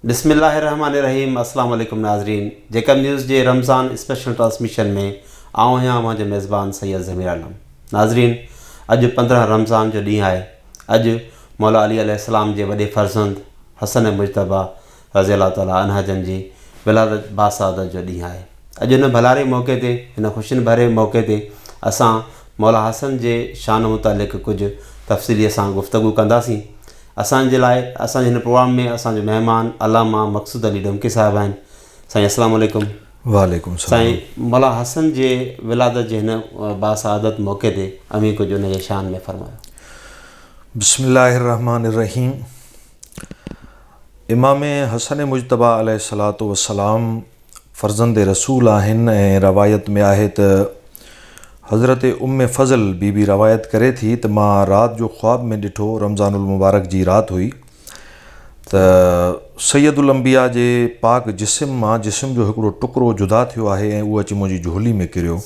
بسم الله الرحمٰن الرحيم السلام عليڪم ناظرين جيڪب نيوز جي رمضان اسپيشل ٽرانسميشن ۾ آئون آهيان اوهان جو ميزبان سيد ضمير عالم ناظرين اڄ پندرهن رمضان جو ڏينهن آهي اڄ مولا علي عليه السلام جي وڏي فرزند حسن مجتبيٰ رضي الله تعالٰي عنه جن جي ولادت باسعادت جو ڏينهن آهي اڄ ان ڀلاري موقعي تي هن خوشين ڀري موقعي تي اسان مولا حسن جي شان متعلق ڪجهه تفصيلي سان گفتگو ڪنداسين اسان جي لاء اسان جي هن پروگرام ۾ اسان جو مهمان علامه مقصود علي ڊومڪي صاحب آهن سائين اسلام عليڪم. وعليڪم السلام. سائين ملا حسن جي ولادت جي هن با سعادت موقعي تي اوهين ڪجهه ان جي شان ۾ فرمايو. بسم الله الرحمٰن الرحيم امام حسن مجتبيٰ عليه الصلوة والسلام فرزند رسول آهن ۽ روايت ۾ آهي ته حضرت ام فضل بي بي روايت ڪري ٿي ته مان رات جو خواب ۾ ڏٺو رمضان المبارڪ جي رات هئي ته سيد الانبياء جي پاڪ جسم مان جسم جو هڪڙو ٽڪرو جدا ٿيو آهي ۽ اهو اچي منهنجي جهولي ۾ ڪريو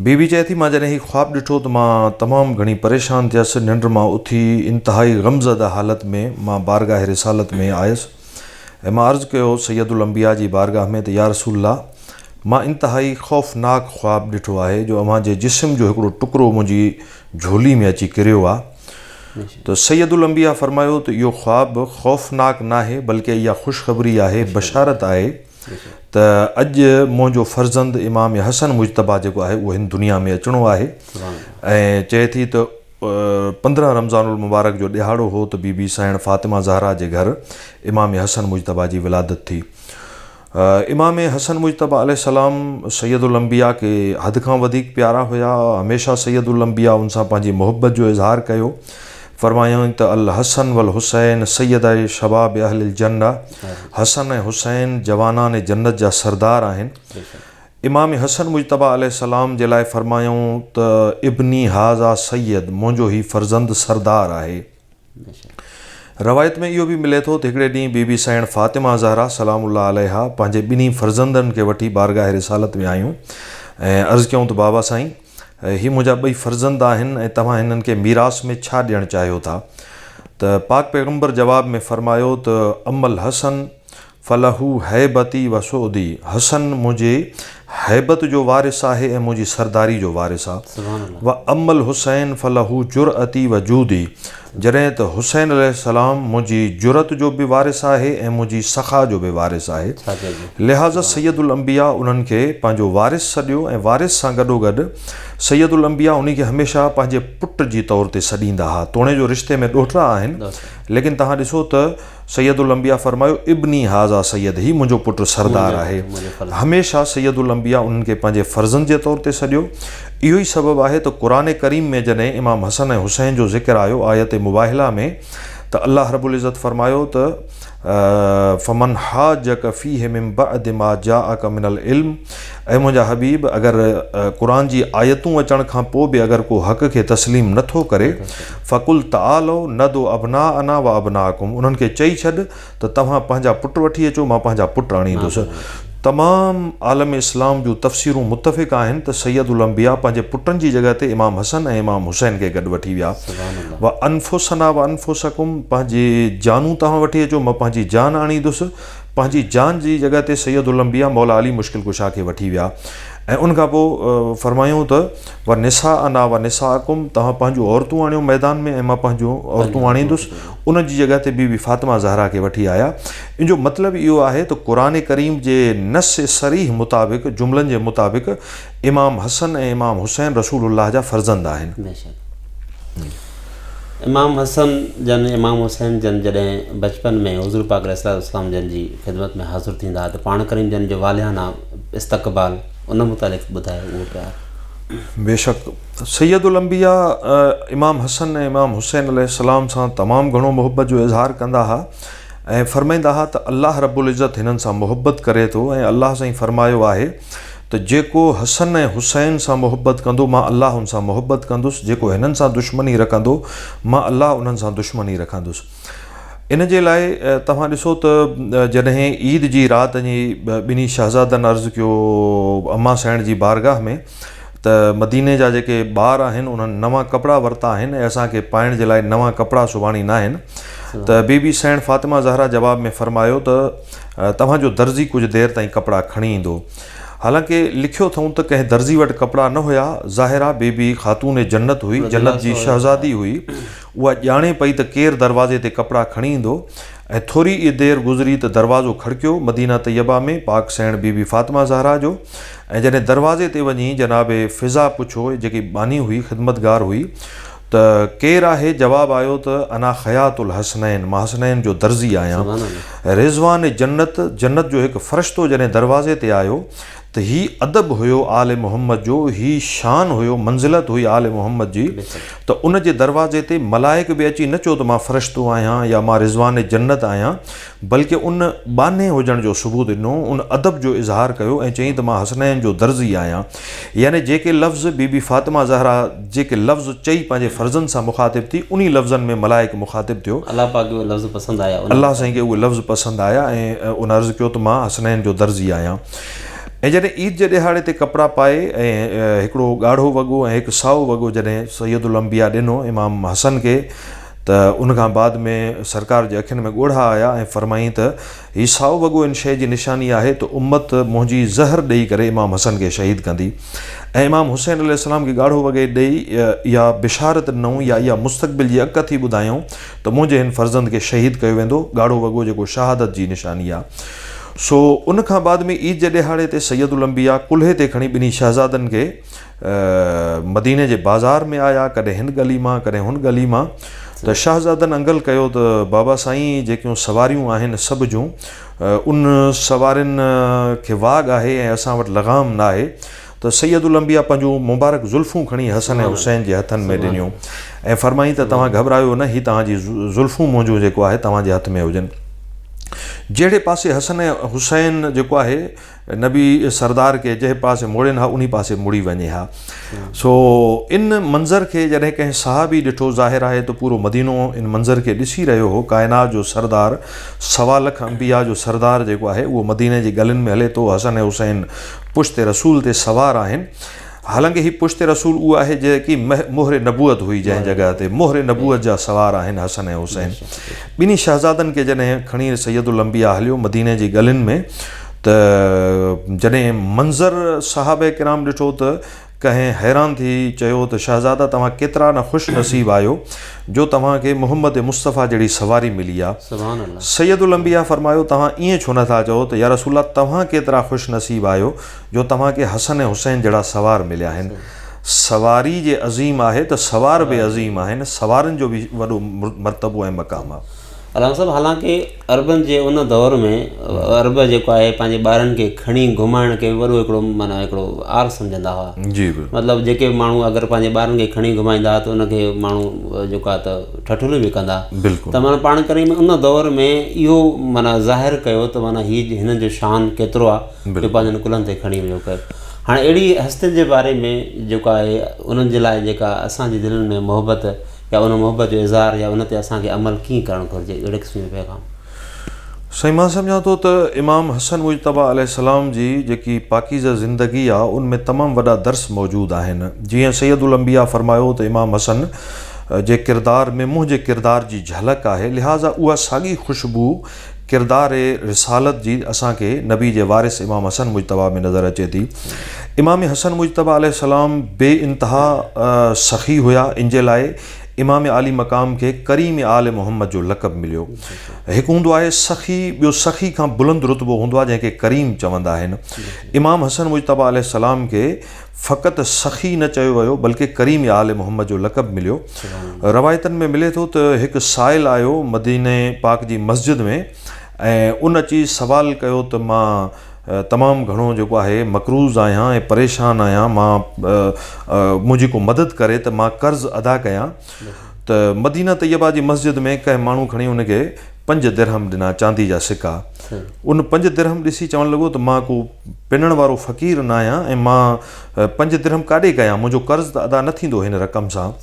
بي بي چئي ٿي، مان جڏهن هي خواب ڏٺو ته مان تمام گهڻي پريشان ٿيس، ننڊ مان اٿي انتهائي غمزده حالت ۾ مان بارگاهه رسالت ۾ آيس ۽ مان عرض ڪيو سيد الانبياء جي بارگاهه ۾ ته يارسول الله مان انتهائي خوفناڪ خواب ڏٺو آهي جو اوهان جي جسم جو هڪڙو ٽڪرو منهنجي جهولي ۾ اچي ڪريو آ ته سيد الانبياء فرمايو ته اهو خواب خوفناڪ ناهي بلڪه اها خوشخبري آهي، بشارت آهي، ته اڄ منهنجو فرزند امام حسن مجتبيٰ جيڪو آهي اهو هن دنيا ۾ اچڻو آهي ۽ چئي ٿي ته پندرهن رمضان المبارڪ جو ڏهاڙو هو ته بي بي سائڻ فاطمه زهرا جي گهر امام حسن مجتبيٰ جي ولادت ٿي امام حسن مجتبيٰ عليه السلام سيد الانبياء کي حد کان وڌيڪ پيارا هيا هميشه سيد الانبياء ان سان پنهنجي محبت جو اظهار ڪيو فرمايائون ته الحسن والحسين سيدئ شباب اهل الجنه حسن ۽ حسين جوانان جنت جا سردار آهن. امام حسن مجتبيٰ عليه السلام جي لاء فرمايائون ته ابني هذا سيد، منهنجو هي فرزند سردار آهي. روايت ۾ اهو به ملي ٿو ته هڪڙي ڏينهن بي بي سيڻ فاطمه زهرا سلام الله عليها پنهنجي ٻنهي فرزندن کي وٺي بارگاهه رسالت ۾ آيون ۽ عرض ڪيائون ته بابا سائين! هي منهنجا ٻئي فرزند آهن ۽ توهان هنن کي ميراث ۾ ڇا ڏيڻ چاهيو ٿا؟ ته پاڪ پيغمبر جواب ۾ فرمايو ته اما الحسن فله هيبتي و سؤدي، حسن منهنجي هيبت جو وارث آهي ۽ منهنجي سرداري جو وارث آ، و اما الحسين فله جرئتي و جودي، جڏهن ته حسين عليه السلام منهنجي جرئت جو به وارث آهي ۽ منهنجي سخا جو به وارث آهي، لهٰذا سيد الانبياء انهن کي پنهنجو وارث سڏيو ۽ وارث سان گڏوگڏ سيد الانبياء انهي کي هميشه پنهنجي پٽ جي طور تي سڏيندا ها، توڻي جو رشتي ۾ ڏوهٽا آهن، ليڪن توهان ڏسو ته. سيد الانبياء فرمايو، ابني هذا سيد، هي منهنجو پٽ سردار آهي. هميشه سيد الانبياء انهن کي پنهنجي فرزند جي طور تي سڏيو. اهو ئي سبب آهي ته قرآن ڪريم ۾ جڏهن امام حسن ۽ حسين جو ذڪر آيو آيت مباهله ۾ ته الله رب العزت فرمايو ته فمن حاجک فيه من بعد ما جاءک من العلم اي منهنجا حبيب! اگر قرآن جي آيتون اچڻ کان پوء به اگر ڪو حق کي تسليم نه ٿو ڪري، فقل تعالو ندعو ابناءنا و ابناءکم، انهن کي چئي ڇڏ ته توهان پنهنجا پٽ وٺي اچو، مان پنهنجا پٽ آڻيندس. تمام عالم اسلام جون تفسيرون متفق آهن ته سيد الانبياء پنهنجي پٽن جي جڳهه تي امام حسن ۽ امام حسين کي گڏ وٺي ويا. و انفسنا و انفسکم، پنهنجي جانون توهان وٺي اچو، مان پنهنجي جان آڻيندس. پنهنجي جان جي جڳهه تي سيد الانبياء مولا علي مشڪل ڪشا کي وٺي ويا ۽ ان کان پوء فرمايائون ته و نساءنا و نساءکم توهان پنهنجون عورتون آڻيو ميدان ۾ ۽ مان پنهنجون عورتون آڻيندس ان جي جڳهه تي بي بي فاطمه زهرا کي وٺي آيا ان جو مطلب اهو آهي ته قرآن ڪريم جي نص صريح مطابق جملن جي مطابق امام حسن ۽ امام حسين رسول الله جا فرزند آهن. امام حسن جن امام حسين جن جڏهن بچپن ۾ حضور پاڪ عليه الصلاة والسلام جن جي خدمت ۾ حاضر ٿيندا ته پاڻ ڪريم جن جو والهانه استقبال ان متعلق ٻڌايو اهو پيار. بيشڪ سيد الانبياء امام حسن ۽ امام حسين عليه السلام سان تمام گهڻو محبت جو اظهار ڪندا ها ۽ فرمائيندا ها ته الله رب العزت هنن سان محبت ڪري ٿو ۽ الله سائين فرمايو آهي ته جيڪو حسن ۽ حسين سان محبت ڪندو مان الله ان سان محبت ڪندس جيڪو هنن سان دشمني رکندو مان الله انهن سان دشمني رکندس ان جي لاء توهان ڏسو ته جڏهن عيد جي رات جي ٻنهي شهزادن عرض ڪيو امان سائڻ جي بارگاهه ۾ ته مديني جا جيڪي ٻار آهن انهن نوان ڪپڙا ورتا آهن ۽ اسان کي پائڻ جي لاء نوان ڪپڙا سباڻي ناهن ته بي بي سيڻ فاطمه زهرا جواب ۾ فرمايو ته توهان جو درزي ڪجهه دير تائين ڪپڙا کڻي ايندو حالانڪه لکيو اٿئون ته ڪنهن درزي وٽ ڪپڙا نه هيا ظاهرا بي بي خاتون جنت هئي جنت جي شهزادي هئي اها ڄاڻي پئي ته ڪير دروازي تي ڪپڙا کڻي ايندو ۽ ٿوري ئي دير گذري ته دروازو کڙڪيو مدينه طيبه ۾ پاڪ سيڻ بي بي فاطمه زهرا جو ۽ جڏهن دروازي تي وڃي جناب فضا پڇو، جيڪي ٻانهي هئي، خدمتگار هئي، ته ڪير آهي؟ جواب آيو ته انا خياط الحسنين، مان حسنين جو درزي آهيان. رضوان جنت، جنت جو هڪ فرشتو جڏهن دروازي تي آيو ته هي ادب هيو آل محمد جو، هي شان هيو، منزلت هئي آل محمد جي ته ان جي دروازي تي ملائڪ به اچي نه چيو ته مان فرشتو آهيان يا مان رضوان جنت آهيان، بلڪه ان ٻانهي هجڻ جو ثبوت ڏنو، ان ادب جو اظهار ڪيو ۽ چيائين ته مان حسنين جو درزي آهيان. يعني جيڪي لفظ بي بي فاطمه زهره جيڪي لفظ چئي پنهنجي فرزند سان مخاطب ٿي، انهي لفظن ۾ ملائڪ مخاطب ٿيو. الله پاڪ کي اهي لفظ پسند آيا. الله سائين کي اهي لفظ پسند آيا ۽ ان عرض ڪيو ته مان حسنين جو درزي آهيان. ۽ جڏهن عيد جي ڏيهاڙي تي ڪپڙا پائي ۽ هڪڙو ڳاڙهو وڳو ۽ هڪ سائو وڳو جڏهن سيدالانبياء ڏنو امام حسن کي، ته ان کان بعد ۾ سرڪار جي اکين ۾ ڳوڙها آيا ۽ فرمائين ته هي سائو وڳو ان شيء جي نشاني آهي ته امت منهنجي زهر ڏيئي ڪري امام حسن کي شهيد ڪندي ۽ امام حسين عليه السلام کي ڳاڙهو وڳي ڏيئي اها بشارت ڏنائون يا اها مستقبل جي اک ٿي ٻڌايائون ته منهنجي هن فرزند کي شهيد ڪيو ويندو ڳاڙهو وڳو جيڪو شهادت جي نشاني آهي سو ان کان بعد ۾ عيد جي ڏهاڙي تي سيد الانبياء ڪلهي تي کڻي ٻنهي شهزادن کي مديني جي بازار ۾ آيا، ڪڏهن هن ڳلي مان، ڪڏهن هن ڳلي مان ته شاهزادن انگل ڪيو ته بابا سائين جيڪيون سواريون آهن سڀ جون ان سوارين کي واڳ آهي ۽ اسان وٽ لغام ناهي ته سيدالانبياء پنهنجون مبارڪ زلفون کڻي حسن ۽ حسين جي هٿن ۾ ڏنيون ۽ فرمائين ته توهان گهٻرايو نه هي توهان جي زلفون منهنجون جيڪو آهي توهان جي هٿ ۾ هجن جهڙي پاسي حسن ۽ حسين جيڪو آهي نبي سردار کي جنهن پاسي موڙين ها انهي پاسي مڙي وڃي ها سو ان منظر کي جڏهن ڪنهن صحابي ڏٺو ظاهر آهي ته پورو مدينو ان منظر کي ڏسي رهيو هو ڪائنات جو سردار سوا لک انبيا جو سردار جيڪو آهي اهو مديني جي گلين ۾ هلي ٿو حسن حسين پشت رسول تي سوار آهن حالانڪه هي پشت رسول اهو آهي جيڪي مهر نبوت هئي جنهن جڳهه تي مهر نبوت جا سوار آهن حسن ۽ حسين ٻنهي شهزادن کي جڏهن کڻي سيد الانبياء هليو مديني جي ڳلين ۾ ته جڏهن منظر صحابه ڪرام ڏٺو ته ڪنهن حيران ٿي چيو ته شهزادا توهان ڪيترا نه خوش نصيب آهيو جو توهان کي محمد مصطفيٰ جهڙي سواري ملي آ سيد الانبياء فرمايو توهان ائين ڇو نه ٿا چئو ته يارسول الله توهان ڪيترا خوش نصيب آهيو جو توهان کي حسن ۽ حسين جهڙا سوار مليا آهن. سواري جي عظيم آهي ته سوار به عظيم آهن. سوارن جو به وڏو مرتبو ۽ مقام آهي. علامه صاحب حالانڪه عربن جي ان دور ۾ عرب جيڪو آهي پنهنجي ٻارن کي کڻي گهمائڻ کي وڏو هڪڙو معنيٰ هڪڙو عار سمجهندا هئا مطلب جيڪي به ماڻهو اگر پنهنجي ٻارن کي کڻي گهمائيندا هئا ته ان کي ماڻهو جيڪو آهي ته ٺٺوليون به ڪندا ته معنيٰ پاڻ ڪري ان دور ۾ اهو معنيٰ ظاهر ڪيو ته معنيٰ هي هنن جو شان ڪيترو آهي جو پنهنجن ڪلهن تي کڻي ويو ڪر هاڻ اهڙي هستين جي باري ۾ جيڪو آهي انهن جي لاء جيڪا اسان جي دلن ۾ محبت يا ان محبت جو اظهار يا ان تي اسان کي عمل ڪيئن ڪرڻ گهرجي اهڙي قسم جو پيغام. سائين مان سمجهان ٿو ته امام حسن مجتبيٰ عليه السلام جي جيڪي پاڪيزه زندگي آ ان ۾ تمام وڏا درس موجود آهن جيئن سيد الانبياء فرمايو ته امام حسن جي ڪردار ۾ منهنجي ڪردار جي جهلڪ آهي لهٰذا اها ساڳي خوشبو ڪردار رسالت جي اسان کي نبي جي وارث امام حسن مجتبيٰ ۾ نظر اچي ٿي. امام حسن مجتبيٰ عليه السلام بي انتها سخي هيا ان جي لاء امام عالي مقام کي ڪريم آل محمد جو لقب مليو. هڪ هوندو آهي سخي ٻيو سخي کان بلند رتبو هوندو آهي جنهن کي ڪريم چوندا آهن. امام حسن مجتبيٰ عليه السلام کي. فقط سخي نه چيو ويو بلڪه ڪريم يا آل محمد جو لقب مليو. روايتن ۾ ملي ٿو ته هڪ سائل آيو مديني پاڪ جي مسجد ۾ ۽ ان اچي سوال ڪيو ته مان تمام گهڻو جيڪو آهي مقروض آهيان ۽ پريشان آهيان مان منهنجي ڪو مدد ڪري ته مان قرض ادا ڪيان. ته مدينه طيبه جي مسجد ۾ ڪنهن ماڻهو کڻي ان کي پنج درهم ڏنا چاندي جا سڪا ان پنج درهم ڏسي چوڻ لڳو ته مان ڪو پنڻ وارو فقير نه آهيان ۽ مان پنج درهم ڪاڏي ڪيان منهنجو قرض ته ادا نه ٿيندو هن رقم سان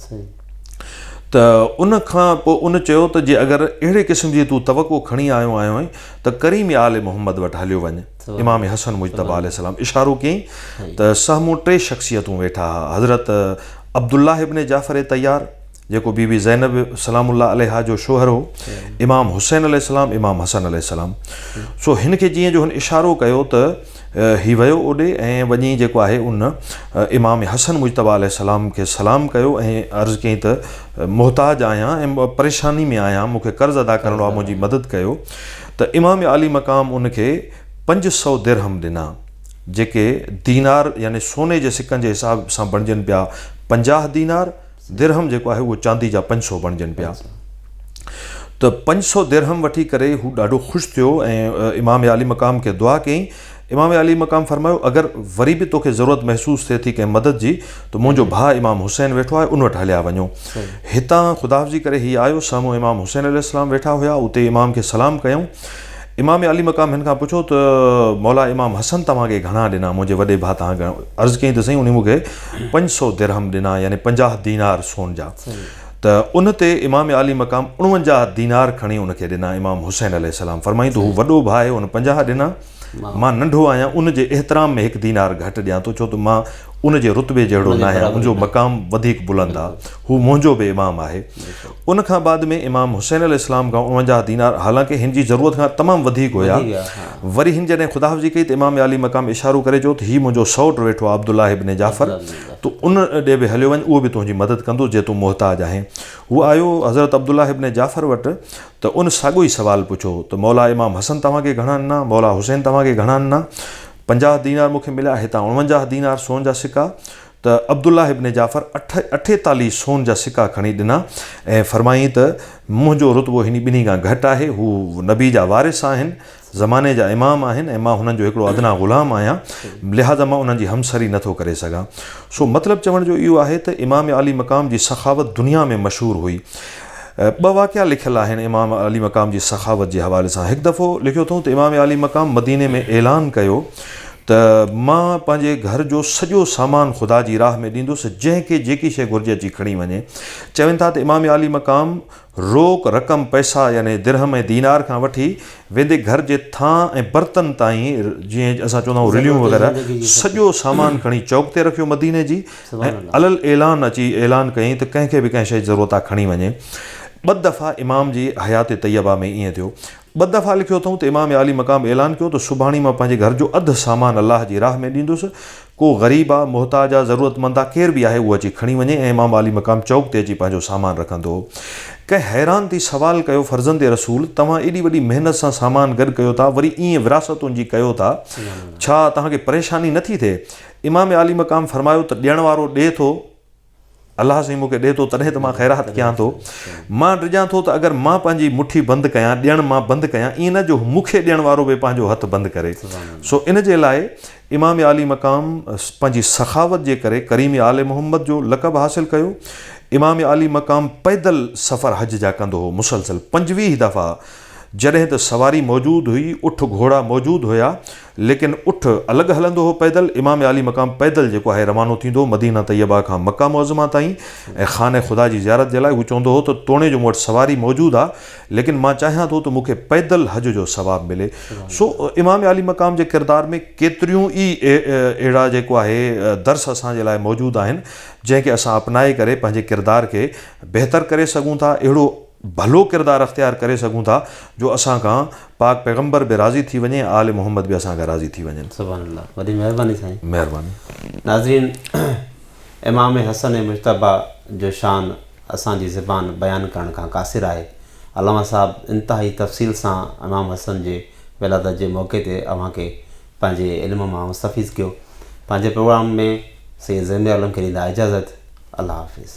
ته ان کان پوء ان چيو ته جي اگر اهڙي قسم جي تون توقع کڻي آيو آهين ته ڪريم آل محمد وٽ هليو وڃ امام حسن مجتبيٰ عليه السلام اشارو ڪيائين ته سامهون ٽي شخصيتون ويٺا ها، حضرت عبدالله ابن جعفر طيار، جيڪو بي بي زينب سلام الله عليها جو شوهر هو، امام حسين عليه السلام، امام حسن عليه السلام. سو هن کي جيئن جو هن اشارو ڪيو ته هي ويو اوڏي ۽ وڃي جيڪو آهي ان امام حسن مجتبيٰ عليه السلام کي سلام ڪيو ۽ عرض ڪيائين ته محتاج آهيان ۽ پريشاني ۾ آهيان، مون کي قرض ادا ڪرڻو آهي، منهنجي مدد ڪيو. ته امام عالي مقام ان کي پنج سؤ درهم ڏنا، جيڪي دينار يعني سوني جي سڪن جي حساب سان بڻجن پيا پنجاهه دينار، درهم جيڪو آهي اهو چاندي جا پنج سؤ بڻجن پيا. ته پنج سؤ درهم وٺي ڪري هو ڏاڍو خوش ٿيو ۽ امام عالي مقام کي دعا ڪيائين امام علي مقام فرمايو، اگر وري به توکي ضرورت محسوس ٿئي ٿي ڪنهن مدد جي ته منهنجو ڀاء امام حسين ويٺو آهي ان وٽ هليا وڃو. هتان خداحافظي ڪري هي آيو، سامهون امام حسين عليه السلام ويٺا هيا، اتي امام کي سلام ڪيائون. امام علي مقام هن کان پڇيو ته مولا امام حسن توهان کي گهڻا ڏنا؟ منهنجي وڏي ڀاء توهان کي گهڻا؟ عرض ڪيائين ته سائين انهي مون کي پنج سؤ درهم ڏنا يعني پنجاهه دينار سون جا. ته ان تي امام علي مقام اڻونجاهه دينار کڻي ان کي ڏنا. امام حسين عليه السلام فرمايائين ته هو وڏو ڀاء هو هن پنجاهه ڏنا. مان ننڍو آهيان ان جي احترام ۾ هڪ دينار گهٽ ڏيان ٿو ڇو ته مان ان جي رتبي جهڙو نه آهيان منهنجو مقام وڌيڪ بلند آهي هو منهنجو به امام آهي ان کان بعد ۾ امام حسين عليه السلام کان اڻونجاهه دينار حالانڪه هن جي ضرورت کان تمام وڌيڪ هيا وري هن جڏهن خدا حافظي ڪئي ته امام عالي مقام اشارو ڪري چيو ته هي منهنجو سئوٽ ويٺو آهي عبدالله ابن جعفر تو ان ڏي به هليو وڃ اهو به تنهنجي مدد ڪندو جي تون محتاج آهين هو آيو حضرت عبدالله ابن جعفر وٽ ته ان ساڳيو ئي سوال پڇو ته مولا امام حسن توهان کي گهڻا آنا، مولا حسين توهان کي گهڻا آنا، پنجاهه دينار مون کي مليا هتان اڻونجاهه دينار سون جا سڪا ته عبدالله ابن جعفر اٺيتاليهه سون جا سڪا کڻي ڏنا ۽ فرمائين ته منهنجو رتبو هني ٻنهي کان گهٽ آهي هو نبي جا وارث آهن زماني جا امام آهن ۽ مان هنن جو هڪڙو ادنيٰ غلام آهيان، لهٰذا مان انهن جي همسري نه ٿو ڪري سگهان. سو مطلب چوڻ جو اهو آهي ته امام عالي مقام جي سخاوت دنيا ۾ مشهور هئي. ٻه واقعا لکيل آهن امام عالي مقام جي سخاوت جي حوالي سان. هڪ دفعو لکيو اٿئون ته امام عالي مقام مديني ۾ اعلان ڪيو ته مان پنهنجي گهر جو سڄو سامان خدا جي راهه ۾ ڏيندس جنهن کي جيڪي شيء گهرجي اچي کڻي وڃي. چون ٿا ته امام عالي مقام روڪ رقم، پئسا، يعني درهم ۽ دينار کان وٺي ويندي گهر جي ٿانء ۽ برتن تائين، جيئن اسان چوندا آهيون رليون ضرورت وغيره، زندگي جي سڀ سڄو سامان کڻي چوڪ تي رکيو مديني جي سبحان ۽ الله. علي الاعلان اچي اعلان ڪيائين ته ڪنهن کي به ڪنهن شيء جي ضرورت آهي کڻي وڃي. ٻه دفعا امام جي حيات طيبه ۾ ائين ٿيو. ٻه دفعا لکيو اٿئون ته امام عالي مقام اعلان ڪيو ته سڀاڻي مان پنهنجي گهر جو اڌ سامان الله جي راهه ۾ ڏيندس، ڪو غريب آ، محتاج آ، ضرورتمند آ، ڪير به آهي اهو اچي کڻي وڃي ۽ امام عالي مقام چوڪ تي اچي پنهنجو سامان رکندو. ڪنهن حيران ٿي سوال ڪيو فرزند رسول توهان ايڏي وڏي محنت سان سامان گڏ ڪيو ٿا وري ائين وراثتن جي ڪيو ٿا ڇا توهان کي پريشاني نه ٿي ٿئي امام عالي مقام فرمايو ته ڏيڻ وارو ڏي ٿو الله سائين مون کي ڏي ٿو تڏهن ته مان خيرات ڪيان ٿو. مان ڊڄان ٿو ته اگر مان پنهنجي مٺي بند ڪيان، ڏيڻ مان بند ڪيان، ائين نه جو مون کي ڏيڻ وارو به پنهنجو هٿ بند ڪري. سو ان جي لاء امام عالي مقام پنهنجي سخاوت جي ڪري ڪريم آل محمد جو لقب حاصل ڪيو. امام عالي مقام پيدل سفر حج جا ڪندو هو. مسلسل پنجويهه دفعا جڏهن ته سواري موجود هئي، اٺ گهوڙا موجود هيا، ليڪن اٺ الڳ هلندو هو پيدل، امام عالي مقام پيدل جيڪو آهي روانو ٿيندو هو مدينه طيبه کان مڪه معظمه تائين ۽ خانه خدا جي زيارت جي لاء هو چوندو هو ته توڻي جو مون وٽ سواري موجود آ ليڪن مان چاهيان ٿو ته مون کي پيدل حج جو ثواب ملي سو امام عالي مقام جي ڪردار ۾ ڪيتريون ئي اهڙا جيڪو آهي درس اسان جي لاء موجود آهن جنهن کي اسان اپنائي ڪري پنهنجي ڪردار کي بهتر ڪري سگهون ٿا اهڙو ڀلو ڪردار اختيار ڪري سگهون ٿا جو اسان کان پاڪ پيغمبر به راضي ٿي وڃي ۽ آل محمد به اسان کان راضي ٿي وڃن. سبحان الله وڏي مهرباني سائين. مهرباني. ناظرين امام حسن مجتبيٰ جو شان اسان جي زبان بيان ڪرڻ کان قاصر آهي. علامه صاحب انتهائي تفصيل سان امام حسن جي ولادت جي موقعي تي اوهان کي پنهنجي علم مان مستفيض ڪيو. پنهنجي پروگرام ۾ سيد زينب عالم کي ڏيندا اجازت. الله حافظ.